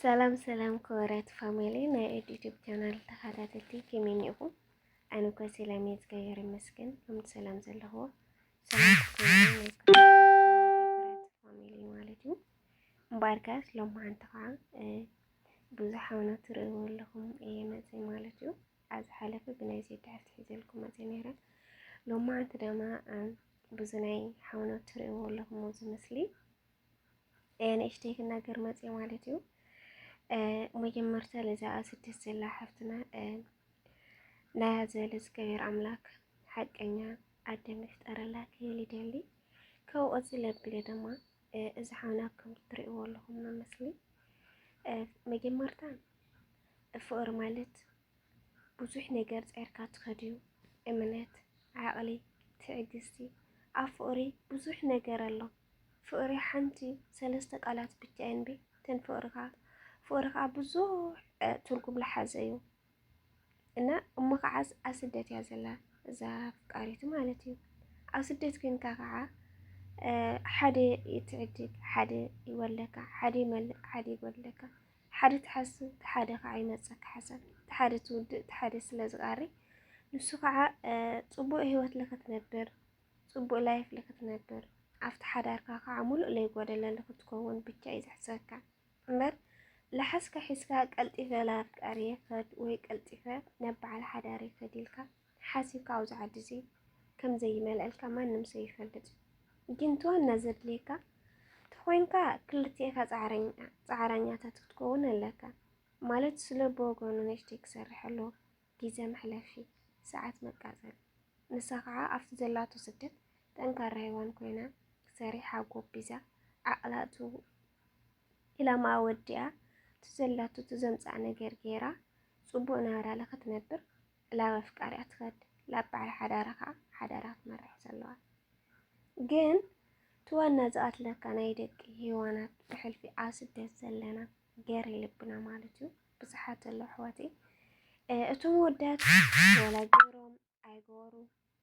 ሰላም ሰላም ክቡራት ፋሚሊ ናይ ኤድ ዩቲዩብ ቻናል ተኸታተልቲ ከመይ እኒኹም? ኣነ እኮ ሰላም እየ እግዚኣብሔር ይመስገን። ከምቲ ሰላም ዘለኹዎ ሰላም ፋሚሊ ማለት እዩ። እምበኣር ከስ ሎማዓንቲ ከዓ ብዙሕ ሓውና ትርእይዎ ኣለኹም እየ መፅእ ማለት እዩ። ኣብ ዝሓለፈ ብናይ ዜድ ትሕዝቲ ሒዘልኩም መፅእ ነይረ። ሎማዓንቲ ድማ ብዙ ናይ ሓውና ትርእይዎ ኣለኹም እዚ ምስሊ ንእሽተይ ክናገር መጽ ማለት እዩ መጀመርታ ለዛ ስደት ዘላ ሓፍትና ናያ ዝበለ ዝገበር ኣምላክ ሓቀኛ ኣደ ምፍጠረላ ክብል ይደሊ ካብኡ እዚ ለብለ ድማ እዚ ሓውና ከም ትሪእዎ ኣለኹም መመስሊ መጀመርታ ፍቅሪ ማለት ብዙሕ ነገር ጸርካ ትኸድዩ እምነት ዓቕሊ ትዕግስቲ ኣብ ፍቕሪ ብዙሕ ነገር ኣሎ ፍቕሪ ሓንቲ ሰለስተ ቃላት ብቻ እንቢ ተን ፍቕሪ ከዓ ፍቕሪ ከዓ ብዙሕ ትርጉም ልሓዘ እዩ እና እሞ ከዓስ ኣብ ስደት እያ ዘላ እዛ ኣፍቃሪቱ ማለት እዩ ኣብ ስደት ኮንካ ከዓ ሓደ ትዕድግ ሓደ ይወለካ ሓደ ይመልእ ሓደ ይጎድለካ ሓደ ትሓስብ እቲ ሓደ ከዓ ይመፀካ ሓሳብ እቲ ሓደ ትውድእ እቲ ሓደ ስለ ዝቃሪ ንሱ ከዓ ፅቡቅ ሂወት ልክትነብር ፅቡቅ ላይፍ ልክትነብር ኣብቲ ሓዳርካ ከዓ ሙሉእ ለይጎደለ ልክትከውን ብቻ እዩ ዘሕስበካ እምበር ላሓስካ ሒዝካ ቀልጢፈ ላፍቃሪ ይክድ ወይ ቀልጢፈ ናብ በዓል ሓዳር ይክድ ኢልካ ሓሲብካ ኣብዚ ዓዲ እዚ ከም ዘይመልኣልካ ማንም ሰብ ይፈልጥ እዩ ግን እቲ ዋና ዘድልየካ ተኾይንካ ክልቲኤካ ጻዕረኛ ጻዕራኛታት ክትከውን ኣለካ ማለት ስለ ብወገኑ ንእሽተይ ክሰርሕ ኣለዎ ግዜ መሕለፊ ሰዓት መቃጸሊ ንሳ ከዓ ኣብቲ ዘላቶ ስደት ጠንካራ ሄዋን ኮይና ሰሪሓ ጎቢዛ ዓቕላ እቱ ኢላማኣ ወዲኣ እቲ ዘላቶ እቲ ዘምጽኣ ነገር ገይራ ጽቡቕ ናብራለ ክትነብር ላብ ኣፍቃሪኣ ትኸድ ላብ በዓል ሓዳራ ከኣ ሓዳራ ክትመርሕ ዘለዋ ግን እቲ ዋና ዝቐትለካ ናይ ደቂ ሄዋናት ብሕልፊ ኣብ ስደት ዘለና ገሬ ልብና ማለት እዩ ብዙሓት ኣለዉ ኣሕዋተይ እቶም ወዳት ወላ ገሮም ኣይገበሩ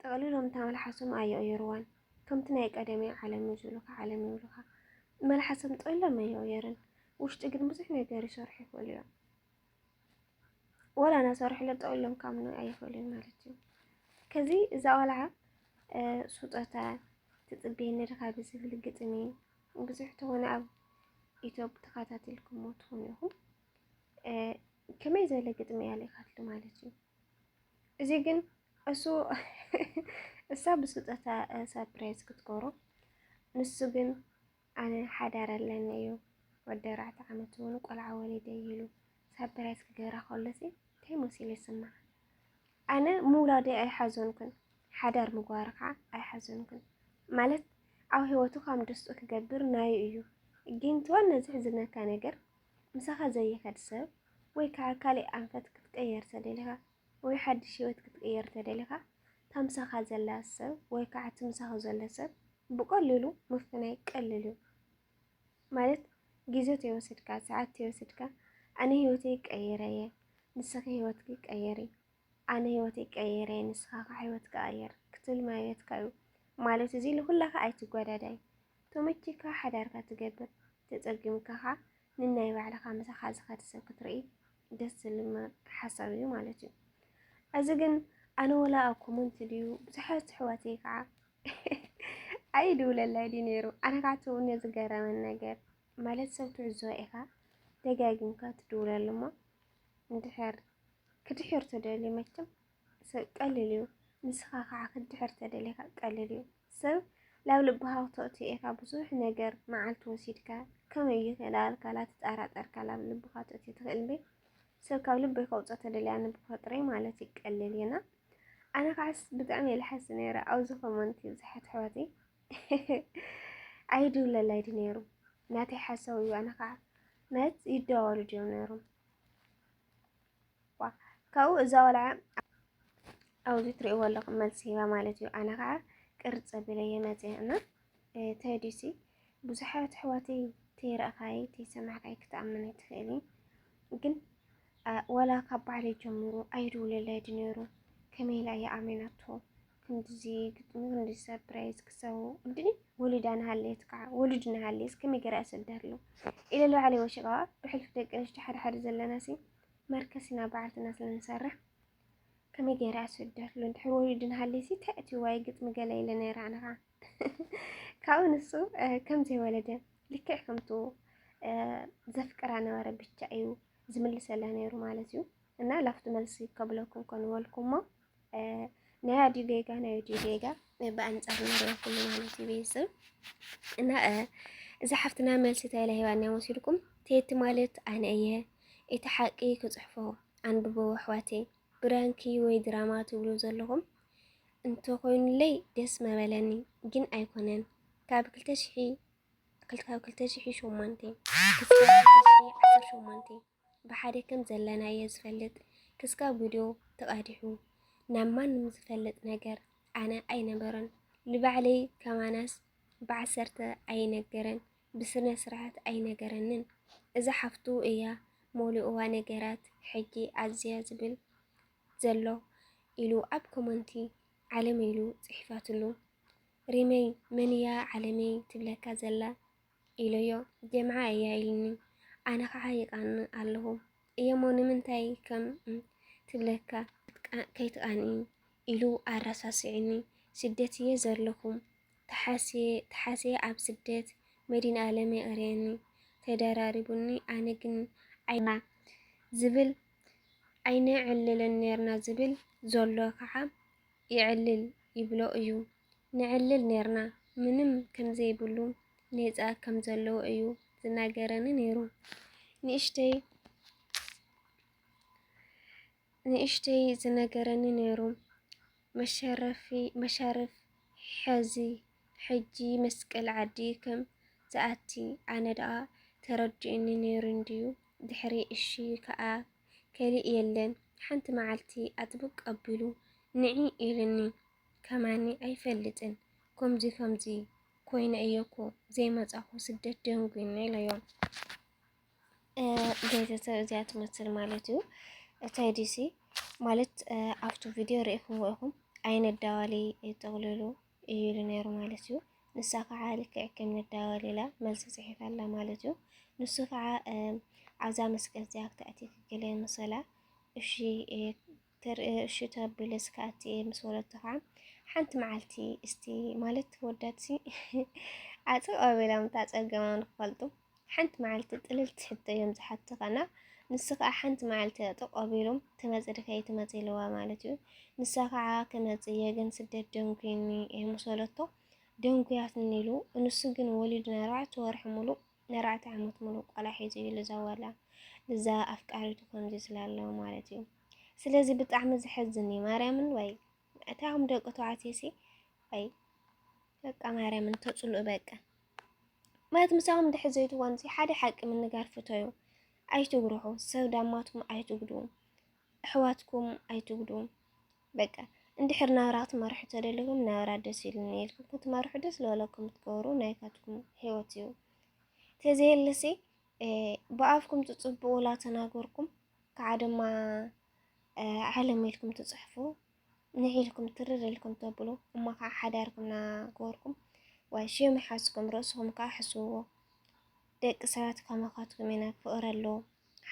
ጠቕሊሎም እታ መልሓሶም ኣይቕይሩዋን ከምቲ ናይ ቀደም እያ ዓለም እዩ ዝብሉካ ዓለም ይብሉኻ መልሓሶም ጠቕሊሎም ኣይቕይርን ውሽጢ ግን ብዙሕ ነገር ይሰርሑ ይኽእሉ እዮም ወላ ናሰርሕለ ጠቕሊሎም ካምኑ ኣይኽእሉን ማለት እዩ ከዚ እዛ ቆልዓ ስጦታ ትፅበየኒ ድኻ ብዝብል ግጥሚ ብዙሕ ትኾነ ኣብ ኢትዮፕ ተኸታተልኩሞ ትኾኑ ኢኹም ከመይ ዝበለ ግጥሚ እያ ልኢኻትሉ ማለት እዩ እዚ ግን እሱ እሳ ብስጦታ ሳፕራይዝ ክትገብሮ ንሱ ግን ኣነ ሓዳር ኣለኒ እዩ ወዲ ኣርባዕተ ዓመት እውን ቆልዓ ወሊደ ኢሉ ሳፕራይዝ ክገብራ ከሎሲ እንታይ መሲሉ ይስማዕ? ኣነ ምውላደ ኣይሓዘንኩን፣ ሓዳር ምግባር ከዓ ኣይሓዘንኩን ማለት ኣብ ህይወቱ ከም ደስቱ ክገብር ናዩ እዩ። ግን ትዋን ነዚ ሕዝነካ ነገር ምሳኻ ዘይኸድ ሰብ ወይ ከዓ ካልእ ኣንፈት ክትቅየር ተደሊኻ ወይ ሓድሽ ህይወት ክትቅየር ተደሊኻ እታ ምሳኻ ዘላ ሰብ ወይ ከዓ እቲ ምሳኻ ዘሎ ሰብ ብቀሊሉ ምፍናይ ቀልል እዩ ማለት ግዜ ተይወስድካ ሰዓት ተይወስድካ ኣነ ህይወተይ ቀይረ እየ ንስኺ ህይወትኪ ቀይሪ ኣነ ህይወተይ ቀይረ ንስኻ ከ ሕይወትካ ኣየር ክትብል ማይበትካ እዩ ማለት እዚ ንኩላካ ኣይትጓዳዳይ ተመችካ ሓዳርካ ትገብር ተጸጊምካ ከ ንናይ ባዕልካ ምሳካ ዝኸድ ሰብ ክትርኢ ደስ ዝልም ሓሳብ እዩ ማለት እዩ እዚ ግን ኣነ ወላ ኣብ ኮመንት ድዩ ብዙሓት ኣሕዋተይ ከዓ ኣይድውለላይ ድዩ ነይሩ ኣነ ከዓ ትውነ ዝገረመን ነገር ማለት ሰብ ትዕዝቦ ኢኻ ደጋጊምካ ትድውለሉ እሞ እንድሕር ክትድሕር ተደልዩ መቸም ሰብ ቀሊል እዩ ንስኻ ከዓ ክትድሕር ተደሊኻ ቀሊል እዩ ሰብ ላብ ልብኻ ክተእትዮ ኢኻ ብዙሕ ነገር መዓልቲ ወሲድካ ከመይ እዩ ከዳልካ ላትጠራጠርካ ላብ ልብኻ ተእትዮ ትኽእል እምበይ ሰብ ካብ ልበይ ከውፅኦ ተደልያ ንብፈጥረይ ማለት እዩ ቀሊል እዩና ኣነ ከዓስ ብጣዕሚ እየ ልሓሲ ነይረ ኣብዚ ኮመንቲ ብዙሓት ኣሕዋተይ ኣይድውለላይ ድዩ ነይሩ ናተይ ሓሳብ እዩ ኣነ ከዓ ማለት ይደዋወሉ ድዮም ነይሮም ካብኡ እዛ ወልዓ ኣብዚ ትሪእዎ ኣለኹም መልሲ ሂባ ማለት እዩ። ኣነ ከዓ ቅርፅ ኣቢለ እየ መፅየ እና ተዲሲ ብዙሓት ኣሕዋተይ ተይረእኻይ ተይሰማዕካይ ክትኣምን ኣይትኽእሊ ግን ዋላ ካብ ባዕለይ ጀምሩ ኣይድውለለይ ድነሩ ከመይ ኢላ እየ ኣሜናቶ ክንድዚ ግጥሚ ክንድዚ ሰርፕራይዝ ክሰው እንድኒ ወሊድ ኣንሃልየት ከዓ ወሉድ ንሃልየስ ከመይ ገይረ ኣሰደርሉ ኢለ ልባዕለይ ወሽቐዋ ብሕልፊ ደቂ ኣንስትዮ ሓደ ሓደ ዘለናሲ መርከሲና በዓልትና ስለንሰርሕ ከመይ ገይረ ኣሰደርሉ እንድሕር ወሊድ ንሃልየሲ ተእትዋይ ግጥሚ ገለ ኢለ ነይረ ኣነ ከዓ ካብኡ ንሱ ከም ዘይወለደ ልክዕ ከምቱ ዘፍቅራ ነበረ ብቻ እዩ ዝምልሰላ ነይሩ ማለት እዩ እና ላፍቱ መልሲ ከብለኩም ኮንበልኩሞ ናይ ኣዲኡ ጌጋ ናይ ኣዲኡ ጌጋ ብኣንጻር ንሪኦ ኩሉ ማለት እዩ ቤተሰብ እና እዛ ሓፍትና መልሲ ተለ ሂባና ወሲድኩም ቴቲ ማለት ኣነ እየ እቲ ሓቂ ክፅሕፎ ኣንብቦ ኣሕዋቴ ብራንኪ ወይ ድራማ ትብሉ ዘለኹም እንተኾይኑለይ ደስ መበለኒ ግን ኣይኮነን ካብ ክልተ ሽሒ ካብ ክልተ ሽሒ ሸሞንተ ክሳብ ክልተ ሽሒ ዓሰርተ ሸሞንተ ብሓደ ከም ዘለና እየ ዝፈልጥ ክስካብ ቪድዮ ተቓዲሑ ናብ ማንም ዝፈልጥ ነገር ኣነ ኣይነበረን ልባዕለይ ከማናስ ብዓሰርተ ኣይነገረን ብስነ ስርዓት ኣይነገረንን እዛ ሓፍቱ እያ ሞሊኡዋ ነገራት ሕጂ ኣዝያ ዝብል ዘሎ ኢሉ ኣብ ኮመንቲ ዓለም ኢሉ ጽሒፋትሉ ሪመይ መንያ ዓለመይ ትብለካ ዘላ ኢለዮ ጀምዓ እያ ኢልኒ ኣነ ከዓ ይቃንእ ኣለኹ እየሞ ንምንታይ ከም ትብለካ ከይትቃንኢ ኢሉ ኣረሳሲዕኒ ስደት እየ ዘለኹም ተሓስየ ኣብ ስደት መዲን ኣለም የቕርየኒ ተደራሪቡኒ ኣነ ግን ዓይና ዝብል ዓይነ ዕልልን ነርና ዝብል ዘሎ ከዓ የዕልል ይብሎ እዩ ነዕልል ነርና ምንም ከምዘይብሉ ኔጻ ከም ዘለዎ እዩ ዝናገረኒ ነይሩ ንእሽተይ ንእሽተይ ዝነገረኒ ነይሩ መሸረፊ መሻርፍ ሕዚ ሕጂ መስቀል ዓዲ ከም ዝኣቲ ኣነ ደኣ ተረዲኡኒ ነይሩ እንድዩ ድሕሪ እሺ ከኣ ከሊእ የለን ሓንቲ መዓልቲ ኣጥብቅ ኣቢሉ ንዒ ኢሉኒ ከማኒ ኣይፈልጥን ኮምዚ ከምዚ ኮይነ እየ እኮ ዘይመፃኹ ስደት ደንጉዩኒ ኢለዮ ቤተሰብ እዚኣ ትመስል ማለት እዩ እታይ ዲሲ ማለት ኣብቱ ቪድዮ ርኢኹምዎ ኢኹም ኣይነት ዳዋሊ ይጠቕልሉ እዩ ኢሉ ነይሩ ማለት እዩ። ንሳ ከዓ ልክዕ ከም ንዳወል ኢላ መልሲ ጽሒፋላ ማለት እዩ። ንሱ ከዓ ኣብዛ መስቀል እዚኣ ክትኣቲ ክክል መሰላ እሺ እሺ ተብልስ ክኣቲ እየ ምስ ወለቶ ከዓ ሓንቲ መዓልቲ እስቲ ማለት ወዳትሲ ኣጽቕ ኣቢሎም ታጸገሞም ክፈልጡ ሓንቲ መዓልቲ ጥልልቲ ሕቶ እዮም ዝሓቱኻ እና ንሱ ከዓ ሓንቲ መዓልቲ ተቆቢሎም ትመፅ ድካ ኣይትመፅ ኢልዋ ማለት እዩ። ንሳ ከዓ ክመፅ እየ ግን ስደት ደንጉይኒ እየ ምስ በለቶ ደንጉያትኒ ኢሉ ንሱ ግን ወሊዱ ንኣርባዕተ ወርሒ ሙሉእ ንኣርባዕተ ዓመት ሙሉእ ቆልዓ ሒዙ እዩ ልዛዋላ እዛ ኣፍቃሪቱ ከምዚ ዝላ ኣሎ ማለት እዩ ስለዚ ብጣዕሚ ዘሐዝን እዩ ማርያምን ወይ እታም ደቂ ተባዕትዮ ሲ ወይ በቃ ማርያምን ተፅልኡ በቃ ማለት ምሳኹም ድሕር ዘይትዋንዚ ሓደ ሓቂ ምንጋር ፍተዩ። ኣይትጉርሑ፣ ሰብ ዳማትኩም ኣይትጉዱ፣ ኣሕዋትኩም ኣይትጉዱ። በቃ እንድሕር ናብራ ክትመርሑ ተደሊኹም ናብራ ደስ ኢሉኒ ኢልኩም ክትመርሑ ደስ ዝበለኩም ትገብሩ ናይካትኩም ህይወት እዩ። ተዘየለሲ ብኣፍኩም ትጽብቑ ላተናገርኩም ከዓ ድማ ዓለም ኢልኩም ትጽሕፉ ንሕ ኢልኩም ትርር ኢልኩም ተብሉ እሞ ከኣ ሓዳርኩም ናገበርኩም ዋይ ሽም ይሓዝኩም ርእስኹም ከኣ ሕስብዎ ደቂ ሰባት ከማኻትኩም ኢና ፍቕሪ ኣሎ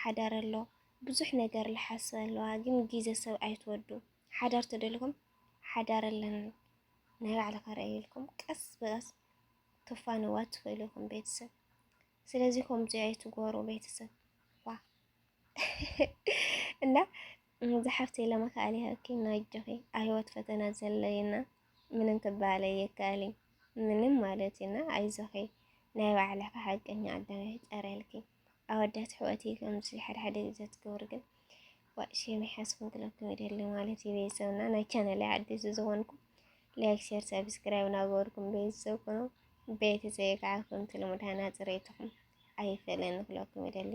ሓዳር ኣሎ ብዙሕ ነገር ልሓስብ ኣለዋ ግን ግዜ ሰብ ኣይትወዱ ሓዳር ተደልኩም ሓዳር ኣለኒ ናይ ባዕልኻ ርኣይ ኢልኩም ቀስ ብቐስ ክፋንዋ ትኽእሉ ኢኹም ቤተሰብ ስለዚ ከምዚ ኣይትጎሩ ቤተሰብ እና ዝሓፍተይ ለመካኣል ይሃብኪ ናጆኺ ኣሂወት ፈተና ዘሎዩና ምንም ክባሃል ኣየካኣልይ ምንም ማለት እዩና ኣይዞኺ ናይ ባዕልኺ ሓቀኛ ኣዳም ይፍጠረልኪ ኣወዳት ኣሕዋትይ ከምዚ ሓድሓደ ግዘ ትገብሩ ግን ዋእ ሼም ይሓስኩም ክለኩም ይደሊ ማለት እዩ ቤተሰብና ናይ ቻናለይ ዓዲስ ዝኾንኩም ላይክ ሼር ሰብስክራይብ ናገበርኩም ቤተሰብ ኩኑ ቤተሰብ ከዓ ከምቲ ልሙድ ሃና ፅሬትኹም ኣይፈለን ክለኩም ይደሊ